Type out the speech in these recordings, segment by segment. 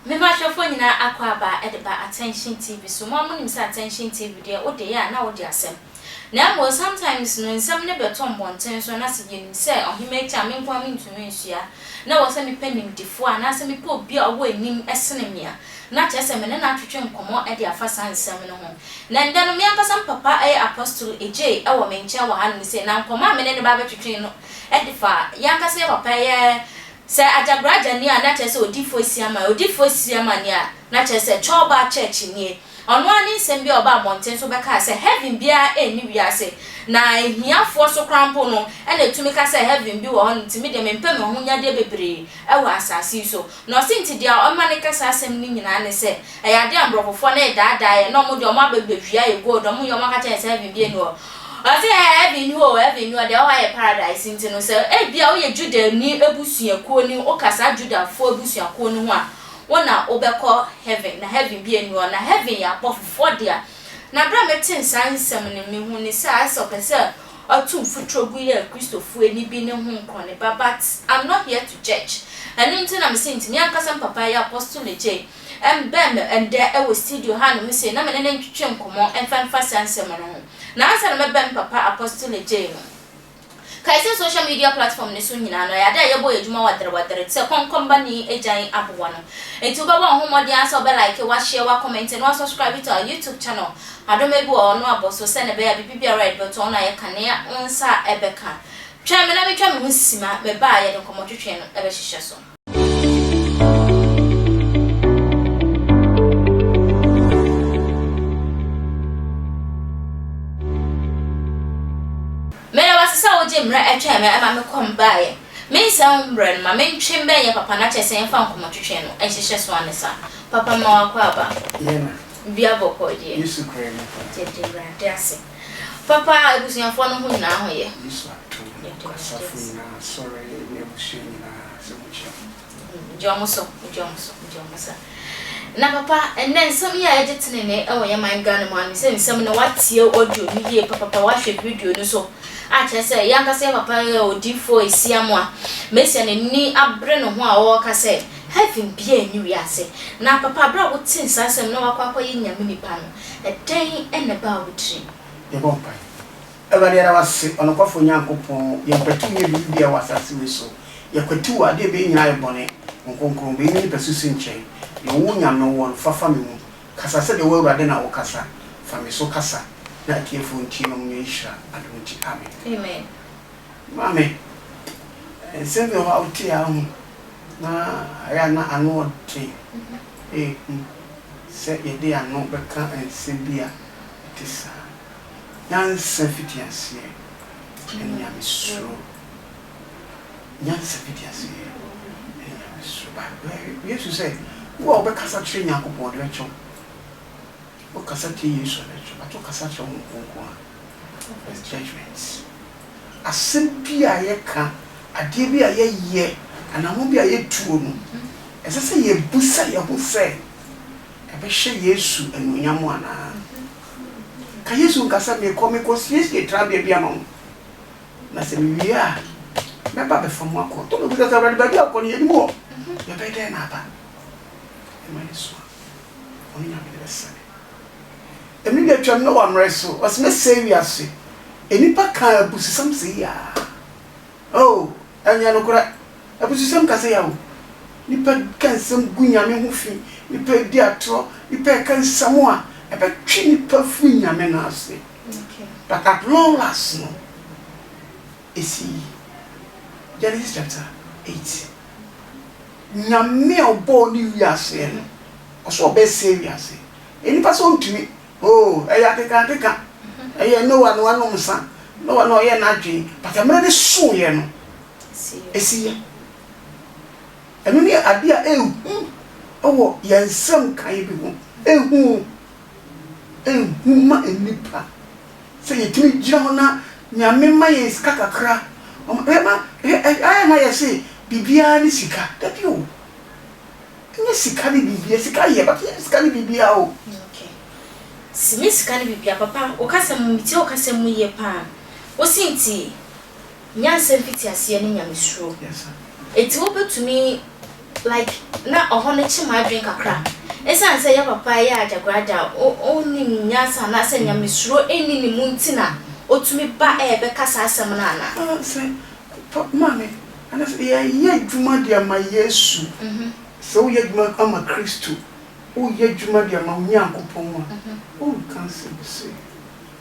Mema ahwɛfoɔ nyinaa akwaaba de ba Attention TV so. Mo ara monim sɛ Attention TV deɛ wode yɛ a na wode asɛm. Na mmom sometimes no nsɛm no bɛtɔ mmɔnten so na sɛ yɛnim sɛ ɔhema akyi a me nko ara mentumi nsua na ɛwɔ sɛ mepɛ nimdefoɔ anaasɛ mepɛ obi a ɔwɔ anim sene me a, na kyerɛ sɛ me ne no atwetwe nkɔmmɔ de afa saa nsɛm no ho. Na ɛnnɛ no me ankasa me papa yɛ Apostle Adjei wɔ me nkyɛn wɔ hanom sei na nkɔmmɔ a me ne no ba bɛtwetwe no de fa yɛn ankasa yɛn papa yɛ sɛ Agyagorɔ Agya nie a na kyerɛ sɛ Odiyifoɔ Asiamah, Odiyifoɔ Asiamah nie a na kyerɛ sɛ Churlba Church nie. Ɔno ara ne nsɛm bi a ɔbaa mmɔnten so bɛkaa sɛ heaven biara nni wiase, na ahiafoɔ so koraa mpo no na ɛtumi ka sɛ heaven bi wɔ hɔ, nti me deɛ mempɛ me ahonyadeɛ bebree wɔ asase yi so. Na ɔse nti deɛ ɛma no ka saa asɛm no nyinaa ne sɛ ɛyɛ adeɛ a mborɔfofoɔ no redaadaa yɛn, na wɔn deɛ wɔn aba bɛwia yɛn gold, wɔn nyɛ wɔn aka kyerɛ yɛn sɛ heaven biara nni hɔ. Ɔse ɛɛ heaven nni hɔ oo, heaven nni hɔ, deɛ ɛwɔ hɔ ayɛ paradise, nti no sɛ ebia woyɛ Judani abusuakuo ni, woka saa Judafoɔ abusuakuo no ho a, Wo na wo bɛ kɔ heaven na heaven bi ɛni hɔ na heaven yɛ abɔfo foɔ dea na berɛ a me tee saa nsɛm no me hu ne sɛ ayɛ sɛ ɔpɛ sɛ ɔto mfuturo gu yɛ Kristofoɔ ɛni bi ne ho nkorɔne ba but I'm not here to judge ɛno nti na me se nti me ankasa me papa yɛ apostle Legye ɛmbɛn me ɛndɛ ɛwɔ studio ha nom se na me ne no ntwetwe nkɔmɔ ɛmfa mfa saa nsɛm no ho na ansa na mɛbɛn me papa apostle Legye no Kae sɛ social media platform no so nyinaa no, ɛyɛ ade a yɛbɔ yɛ adwuma waderewadere te sɛ kɔnkɔnbani agyan aboa no. Enti wobɛbɔ wo ho mmɔden ara sɛ wobɛ like, wa share, wa comment, na wa subscribe to our YouTube channel. Adoma bi wɔ hɔ, no abɔ so, sɛnea ɛbɛyɛ a biribi biara a yɛde bɛto hɔ no a yɛka nea wo nsa bɛka. Twɛn me na mentwa me ho sima, meba a yɛde nkɔmmɔtwetwe no bɛhyehyɛ so. Meda wase sɛ wogye mmerɛ ɛtwɛn me ɛma me kɔm baeɛ. Me nsɛm ho mmerɛ no, ma me ntwe mbɛn yɛ papa na kyerɛ sɛ yɛmfa nkɔmɔtwetwe no nhyehyɛ so ansa. Papa mma wakɔ aba. Yɛna. Dua bɔkɔɔ deɛ. Yesu kura nifa. Yɛda Awurade ase. Papa a abusuafoɔ no ho nyinaa ho yɛ. Yesu ato nkwa asafo nyinaa asɔre ne abusua nyinaa sɛ mo nhyira mo. Gye ɔmo so gye ɔmo so gye ɔmo so na papa ɛnɛ nsɛm yi a yɛgye tenenee ɛwɔ yɛ man Ghana mu ano sɛ nsɛm no watie audio no yie papapa wahwɛ video no so a kyerɛ sɛ yɛ ankasa yɛ papa yɛ odiifoɔ esia mo a mesia n'ani abere ne ho a ɔɔka sɛ heaven biaa nni wiase na papa berɛ a wote saa asɛm na wakɔ akɔyɛ nyame nipa no Ɛdɛn na ɛbaa wo tirim? Yɛbɔ mpae. Awurade, yɛda wo ase, ɔnokwafo Nyankopɔn, yɛmpatuw nyɛ biribi biara wɔ asase wei so. Yɛkwatiw ade a ɛbɛyɛ nyinaa yɛ bɔne, wo nkronkron, bɛyi me nipa susu nkyɛn. Deɛ ɔwɔ Onyame wɔ no, fa fa me mu. Kasa sɛdeɛ wo Awurade na wokasa. Fa me so kasa na atiefoɔ ntie na wɔnya nhyira adom nti. Amen. Amen. Maame, nsɛm bi wɔ hɔ a wote a wohu na ayɛ a na ano yɛ den. Ehu. sɛ yɛde ano bɛka nsɛm bi a ɛte saa. Nyansa fiti aseɛ ne Nyamesuro. Nyansa fiti aseɛ ne Nyamesuro. Bible, Yesu sɛ, Wo a wobɛkasa kyerɛ Nyankopɔn, ɔde bɛkyɛ wo. Wokasa kyerɛ Yesu a, ɔde bɛkyɛ wo, but wokasa kyerɛ Honhom Kronkron a, As judgement. Asɛm bi a yɛka, adeɛ bi a yɛyɛ, anammɔn bi a yɛtuo no, ɛsɛ sɛ yɛbisa yɛn ho sɛ, ɛbɛhyɛ Yesu anuonyam anaa? Ka Yesu nka sɛ, Merekɔ, merekɔsiesie trabea bi ama mo, na sɛ mewie a, mɛba abɛfa mo akɔ. Tobia bisa sɛ, Awurade, baabi a wokɔ no, yɛnim hɔ. Yɛbɛyɛ dɛn na aba? Ɛma yɛsua. Wɔn nyame no bɛsɛe. Mmere bi atwam, Noa mmere so, ɔse mɛsɛe wiase. Nnipa kaa abususɛm se yaa. Oh, ɛnyɛ nokorɛ. Abususɛm kasa ya o. Nnipa ka nsɛm gu Nyame ho fi, nnipa redi atorɔ, nnipa reka nsɛm a ɛbɛtwe nnipa afiri Nyame no ase. But at long last no. esii. Genesis chapter eight. Nyame a ɔbɔɔ ne wiaseɛ no, ɔsɛ ɔbɛsɛe wiase. Nnipa sɛ ɔntumi, oo, ɛyɛ akekankeka, ɛyɛ Noah na wanom nsa, Noah na ɔyɛɛ n'adwene, but mmerɛ no soeɛ no, ɛsiiɛ. Ɛno ne adeɛ a ɛhu wɔ yɛn nsɛm nkaeɛ bi ho, ɛhu, ɛhu ma nnipa. Sɛ yɛtumi gyina hɔ na Nyame ma yɛn sika kakra, ayɛ na yɛse biribiara ne sika, dabi o, nyɛ sika ne biribiara, sika yɛ but nyɛ sika ne biribiara o. Okay, nyɛ sika ne biribiara, papa wo kasɛm mu, metie wo kasɛm mu yie paa, wo se nti Nyansa mfitiaseɛ ne Nyamesuro. Enti wobɛtumi like na ɔhɔ no kye m'adwene kakra ɛsiane sɛ yɛ papa ɛyɛ agyagoragya ɔnnim nyansa anaasɛ Nyamesuro nni ne mu nti na ɔtumi ba ɛrebɛka saa asɛm no anaa? Aa sɛ papa maame ɛnɛ sɛ yɛyɛ adwuma de ama Yesu sɛ woyɛ adwuma ama Kristo woyɛ adwuma de ama Onyankopɔn a wonka nsɛm sei.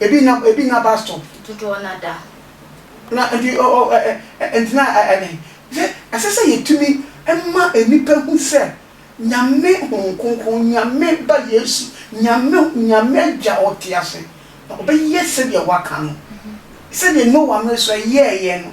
Ebi nna ebi nna bus stop. Dodoɔ no ada ho. Na nti ɔ ɔ ɛ ɛ nti na ɛ ɛne sɛ ɛsɛ sɛ yɛtumi ma nnipa hu sɛ Nyame Honhom Kronkron, Nyame Ba Yesu, Nyame Nyame Agya a ɔte ase, na ɔbɛyɛ sɛdeɛ Waka no. Sɛdeɛ Noa mmerɛ so ɛyɛɛyɛ no.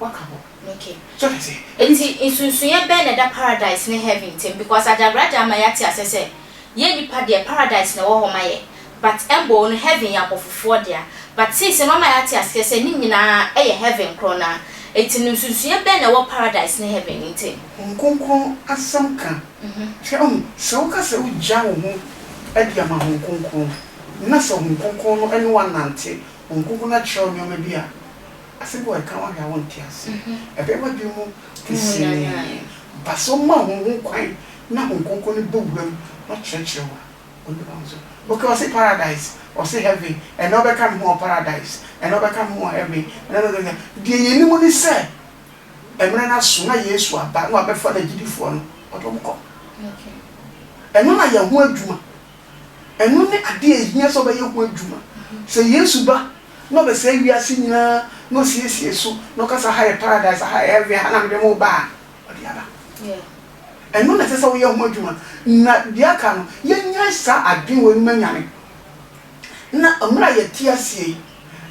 Waka hɔ. Ok. So ate aseɛ? Nti nsunsunyɛ bɛn na ɛda paradise ne heaven ntam because Adagraja ama yɛate aseɛ sɛ yɛn nnipa deɛ paradise na ɛwɔ hɔ ma yɛn but mbɔɔ no heaven yɛ abɔfofoɔ dea but since no wama yɛate aseɛ sɛ ne nyinaa yɛ heaven korɔ no ara nti no nsunsunyɛ bɛn na ɛwɔ paradise ne heaven ntam? Honhom Kronkron asɛm ka kyerɛ ɔn sɛ woka sɛ wogya wo ho adi ama Honhom Kronkron na sɛ Honhom Kronkron no ne wo anante, Honhom Kronkron no akyerɛ wo nnoɔma bi a Asɛm a ɔreka ɔhwɛ a wonte ase. Ɛbɛyɛ w'adwene mu pintsinii. Ba sɛ ɔma hom ho kwan na Hom Krɔnkrɔn no bɔ wura mu na ɔkyerɛkyerɛ wo a, Onyim hom so. Okay, ɔse paradise, ɔse heaven, ɛnna ɔbɛka no ho wɔ paradise, ɛnna ɔbɛka no ho wɔ heaven, ɛnna ɔbɛka no ho. Deɛ yɛnim ne sɛ, mmerɛ no aso na Yesu aba na wabɛfa N'agyidifoɔ no, ɔde wɔn kɔ. Ɛno na yɛn ho adwuma Ɛno ne ade a ehia sɛ ɔbɛyɛ ho adwuma. Sɛ Yesu ba na ɔbɛsɛe wiase nyinaa na osiesie so na ɔka sɛ ha yɛ paradise, ha yɛ heaven, ha na mede mo reba a, ɔde aba. Ɛno na ɛsɛ sɛ woyɛ ho adwuma. Na deɛ aka no, yɛnnyae saa adwene wei no ma nyane. Na mmerɛ a yɛte aseɛ yi,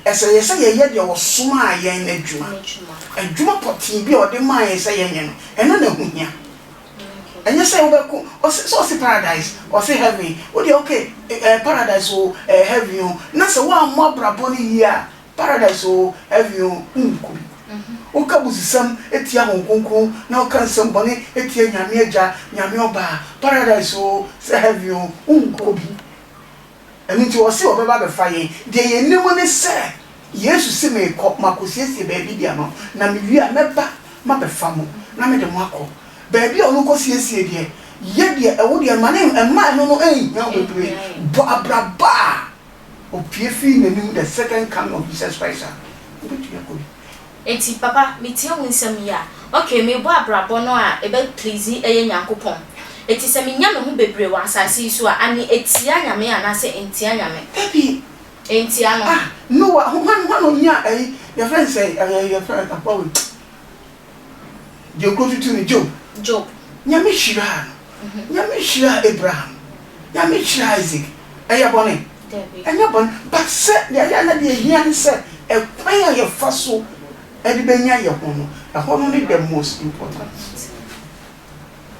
ɛsɛ yɛ sɛ yɛyɛ deɛ ɔsomaa yɛn no adwuma. Adwuma pɔtee bi a ɔde maa yɛn sɛ yɛnyɛ no, ɛno na ɛho hia. Ɛnyɛ sɛ wobɛko ɔse sɛ ɔse paradise ɔse heaven wodeɛ ok eh paradise oo eh heaven oo na sɛ woammɔ abrabɔ no yie a paradise oo heaven oo wonkɔ bi. Woka abusisɛm tia Hon Kronkron na woka nsɛm bɔne tia Nyame Agya, Nyame Ɔbaa, paradise oo sɛ heaven oo wonkɔ bi. Ɛno nti ɔse ɔbɛba abɛfa yɛn. Deɛ yɛnim ne sɛ, Yesu se, Merekɔ, makɔsiesie baabi de ama mo, na mewie a, mɛba mabɛfa mo, na mede mo akɔ. Baabi a ɔno kɔsiesie deɛ, yɛ deɛ ɛwo deɛ ma no, mma ɛno no nnhia wo bebree, bɔ abraba a ɔpue firi n'anim, the second coming of Jesus Christ a, wobɛtumi akɔ bi. Enti papa metie wo nsɛm yi a ok mebɔ abrabɔ no a ɛbɛ please ɛyɛ Nyankopɔn eti sɛ menya me ho bebree wɔ asaase yi so a ane etia Nyame anaasɛ entia Nyame? Dabi Entia no. Ah Noah ho hwan hwan na onyaa ɛyi yɛfrɛ no sɛn ɛɛ yɛfrɛ no aboa wei deɛ okuro tutu no Job Job. Nyame hyiraa no. Nyame hyira Abraham, Nyame hyira Isaac, ɛyɛ bɔne? Ɛnyɛ bɔne, but sɛ deɛ ɛyɛ a na deɛ ɛhia ne sɛ ɛkwan a yɛfa so de bɛnya yɛ ho no, ɛhɔ no ne the most important.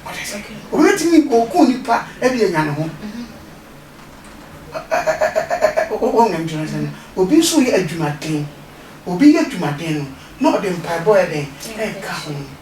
Wate aseɛ? Obi bɛtumi ɔku nipa de anya ne ho, wohunu deɛ mekyerɛ aseɛ no, obi nso yɛ adwumaden, obi yɛ adwumaden no na ɔde mpaebɔ yɛ dɛn? Ɛka ho.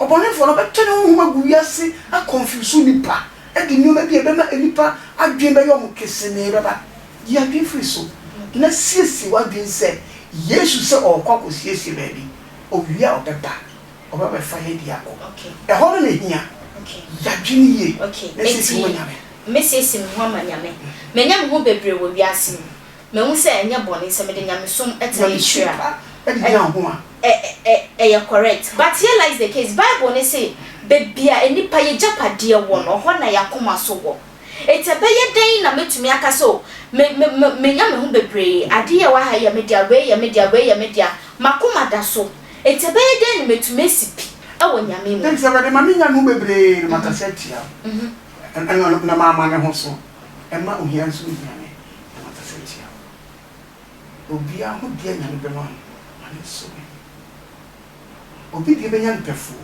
Ɔbɔnefo no ɔbɛtɔ ne honhom agu wiase akɔnfiwso nnipa de nneɛma bi a ɛbɛma nnipa adwene bɛyɛ wɔn kesee bɛba. Yi adwene firi so, na siesie w'adwene sɛ Yesu sɛ ɔrekɔ akɔsiesie baabi. Owie a ɔbɛba, ɔbɛba abɛfa yɛn de akɔ. Ɛhɔ no na ehia. Yi adwene yie na siesie wo ho ma Nyame. Enti, mɛsiesie me ho ama Nyame. Manya me ho bebree wɔ wiase mu. Mahu sɛ ɛnyɛ bɔne sɛ mede nyamesom tena akyiri a ɛ ɛ ɛyɛ correct. But here lies the case, Bible no se baabi a nnipa yagyapadeɛ wɔ no, hɔ na y'akoma so wɔ. Enti ɛbɛyɛ dɛn na mɛtumi aka sɛ o me me me menya me ho bebree, adeɛ yi a ɛwɔ ha yi yɛ me dea, wei yɛ me dea, wei yɛ me dea. M'akoma da so. Enti ɛbɛyɛ dɛn na matumi asi pi wɔ Nyame mu? Enti sɛ wɔde ma menya me ho bebree no, makasa atia wo, na mamane ho so. Ɛma ohia nso ne Nyame na makasa atia wo Obia ho deɛ Nyame bɛma no ma no nsɔ w'ani Obi deɛ bɛnya no pɛfoo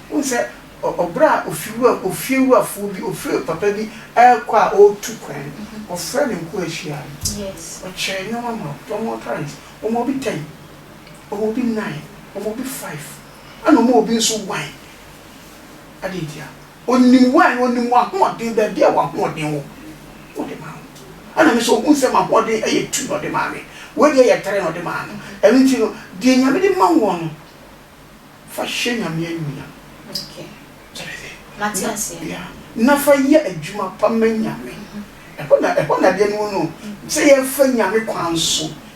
Wohu sɛ ɔbrɛ a ofiewurafoɔ bi ofie papa bi rekɔ a ɔretu kwan no ɔfrɛ ne nkoa hyia no ɔkyɛ nnoɔma ma wɔn wɔn parents wɔma obi ten wɔma obi nnan wɔma obi five ɛna wɔma obi nso one adɛn ntia Ɔnim wo ɛ, Ɔnim w'ahoɔden, baabi a w'ahoɔden wɔ, na Ɔde maa wo. Ɛna me nso, ɔhunu sɛ m'ahoɔden yɛ tu na Ɔde maa me. Wei deɛ yɛ trɛ na Ɔde maa no. Ɛno nti no, deɛ Nyame de ma woɔ no, fa hyɛ Nyame animuonyam. Mate aseɛ. Yeah. Na fa yɛ adwuma pa ma Nyame. Ɛhɔ na, ɛhɔ na adeɛ no wɔ no o. Sɛ yɛfa Nyame kwan so.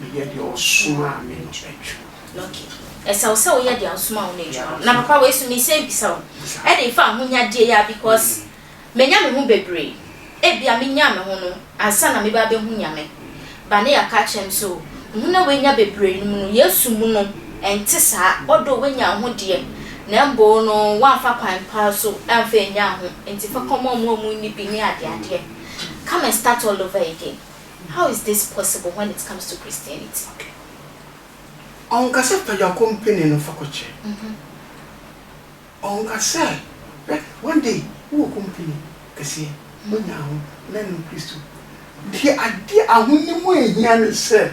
Meyɛ deɛ ɔsomaa me no adwuma. Ok. Ɛsɛ wo sɛ woyɛ deɛ ɔsomaa wo no adwuma. Na papa wei nso mesan bisa wo. Ɛdeɛ fa ahonyadeɛ yi ara because manya me ho bebree. Ebia menyaa me ho no ansa na meba abɛhu Nyame. Ba no yɛ aka akyerɛ me sɛ o, wo ho no a wanya bebree no mu no, Yesu mu no ɛnte saa. Although wanya wo ho deɛ, na mmom no woamfa kwan pa ara so amfa annya wo ho. Nti fa kɔma wɔn a wɔnni bi ne adeadeɛ. Come and start all over again. How is this possible when it comes to Christianity? Ɔnka sɛ tɔ gya kɔ mpene no fa kɔkyɛ. Ɔnka sɛ hwɛ one day wowɔ kompene kɛseɛ wonya ho na ɛno Kristo. Deɛ adeɛ ahonim a ɛhia ne sɛ.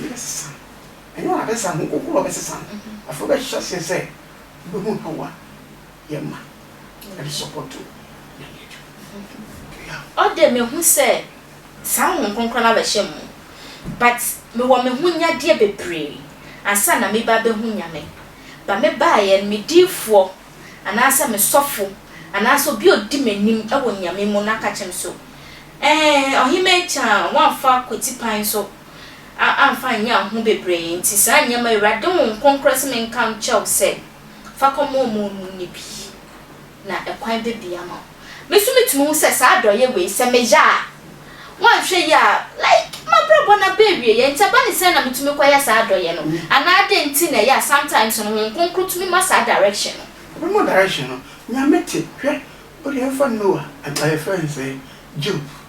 Bɛsesa. Ɛnyɛ wɔn abɛsesa, wɔn koko na wɔbɛsesa no. Afei wɔbɛhyɛ aseɛ sɛ wɔbɛhu how a yɛma de sɔpɔto Nyame adwuma. Ɔdɛ mehu sɛ saa Honhom Kronkron no abɛhyɛ mo mu but mewɔ me ho nyadeɛ bebree ansa na meba abɛhu Nyame but me baeɛ no me diifoɔ anaasɛ me sɔfo anaasɛ obi a ɔdi m'anim wɔ Nyame mu no aka kyerɛ me so ɛɛn Ɔhemmaa Akyan woamfa Kwati Kwan so a amfa annyɛ anho bebree nti saa nneɛma yi Awurade Honhom Kronkron se menka nkyɛ wo sɛ fa kɔma wɔn a wɔnnim no bi na ɛkwan bɛbie ama wo. Me nso metumi hu sɛ saa adɔeɛ wei sɛ meyɛ a woanhwɛ yie a like m'abrabɔ no aba awieɛ nti ɛba ne sɛn na metumi kɔyɛ saa adɔeɛ no anaa dɛn nti na ɛyɛ a sometimes no Honhom Kronkron tumi ma saa direction no. Ɔbɛma wo direction no. Nyame te, hwɛ, wodeɛ mfa Noah, ɔyɛ fɛn sɛn, Job,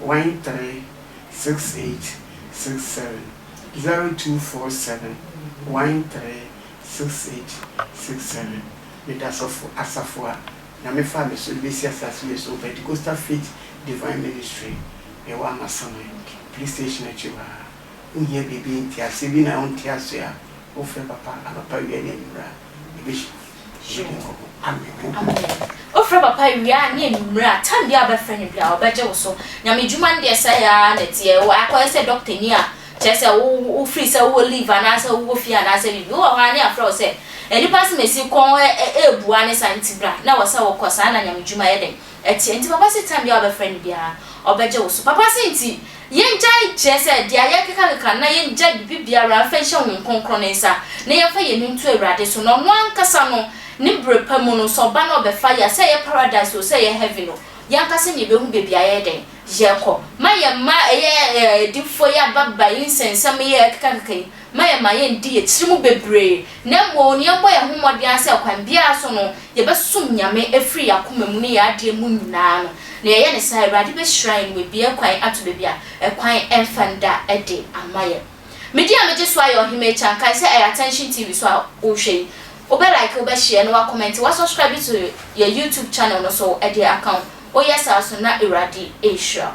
one three six eight six seven zero two four seven one three six eight six seven Meda sɔfo asafo a Nyame faa me so de besi asase wei so Pentecostal Faith Divine Ministry yɛwɔ Amasaman police station akyi hɔ a wohia biribi nteaseɛ bi na wonte aseɛ a wofrɛ papa anɔpa awia ne anwummerɛ a Yebehye wo nkɔmmɔ. Amen. Amen. Wofrɛ papa wie a ne anwummere a time biara wobɛfrɛ no biara ɔbɛgye wo so. Nyame adwuma no deɛ sɛɛ ara na ɛteɛ. Wɔ akɔyɛ sɛ doctor ni a kyerɛ sɛ wo wo free sɛ wowɔ leave anaasɛ wowɔ fie anaasɛ biribi. Wowɔ hɔ a ne yɛafrɛ wo sɛ nnipa asɛm a ɛsi kɔn ɛrebua ne saa nti bra na ɛwɔ sɛ wokɔ saa na Nyame adwuma yɛ dɛn? Ɛteɛ nti papa satan biaa wobɛfrɛ no biaa ɔbɛgye wo so papa se nti yɛngyae kyerɛ sɛ deɛ yɛrekekakeka na yɛngyae biribibiara mfa nhyɛ honhom kronkron ne nsa na yɛmfa yɛn ani nto awurade so na ɔno ankasa no ne bere pa mu no sɛ ɔba na ɔbɛfa yɛa sɛ ɛyɛ paradise oo sɛ ɛyɛ heaven oo yɛankasa na yɛbɛhu baabi a yɛyɛ dɛn yɛrekɔ ma yɛn mma ɛyɛ ɛɛ adifoɔ yi ababa yi nsɛnsɛm yi a yɛrekekakeka yi ma yɛn ma yɛn di yɛn tiri mu bebree, na mmom yɛn bɔ yɛn ho mmɔden ara sɛ ɔkwan biara so no yɛbɛsom Nyame firi yɛn akoma mu ne yɛn adeɛ mu nyinaa no, na yɛyɛ no saa a, Awurade bɛhyira yɛn na wabue kwan ato baabi a ɛkwan mfa nda de ama yɛn. Me din a megye so ayɛ Ɔhemmaa Kyan, kae sɛ ɛyɛ Attention TV so a wohwɛ yi. Wobɛ like, wobɛ share, na woakɔmɛnte, woasubscribe to yɛn YouTube channel no so de aka ho, woyɛ saa so na Awurade ɛhyira wo.